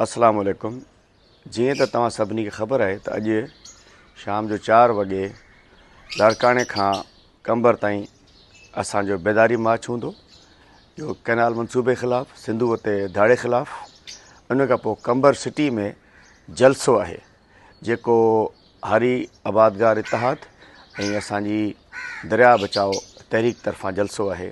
السلام عليڪم جيئن ته توهان سڀني کي خبر آهي ته اڄ شام جو چار وڳي لاڙڪاڻي کان قمبر تائين اسان جو بيداري مارچ هوندو جو ڪئنال منصوبي خلاف سنڌو تي ڌاڙي خلاف ان کان پوء قمبر سٽي ۾ جلسو آهي جيڪو هاري آبادگار اتحاد ۽ اسان جي درياء بچاء تحريڪ طرفان جلسو آهي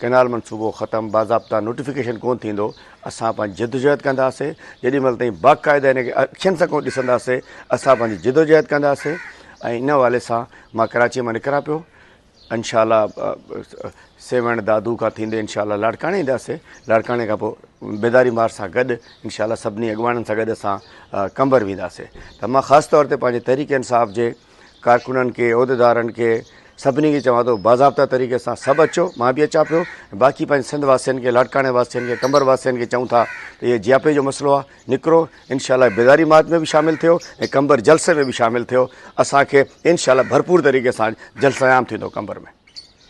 ڪئنال منصوبو ختم باضابطا نوٽيفڪيشن ڪونه ٿيندو اسان پنهنجي جدوجهد ڪنداسي جيڏي مهل تائين باقاعده ان کي اکين سان ڪونه ڏسنداسي اسان پنهنجي جدوجهد ڪنداسي ۽ ان حوالي سان مان ڪراچي مان نڪران پيو انشاء الله سيوهڻ دادو کان ٿيندي انشاء الله لاڙڪاڻي اينداسي لاڙڪاڻي کان پوء بيداري مار سان گڏ انشاء الله سڀني اڳواڻن سان گڏ اسان قمبر وينداسي ته مان خاص طور تي پنهنجي تحريڪ انصاف جي ڪارڪنن کي عهديدارن کي سڀني کي چوان ٿو باضابطا طريقي سان سڀ اچو مان به اچان پيو باقي پنهنجي سنڌ واسين کي لاڙڪاڻي واسين کي قمبر واسين کي چون ٿا ته هي جياپي جو مسئلو آ نڪرو انشاء الله بيداري مات ۾ به شامل ٿيو ۽ قمبر جلسي ۾ به شامل ٿيو اسان کي انشاء الله ڀرپور طريقي سان جلسه عام ٿيندو قمبر ۾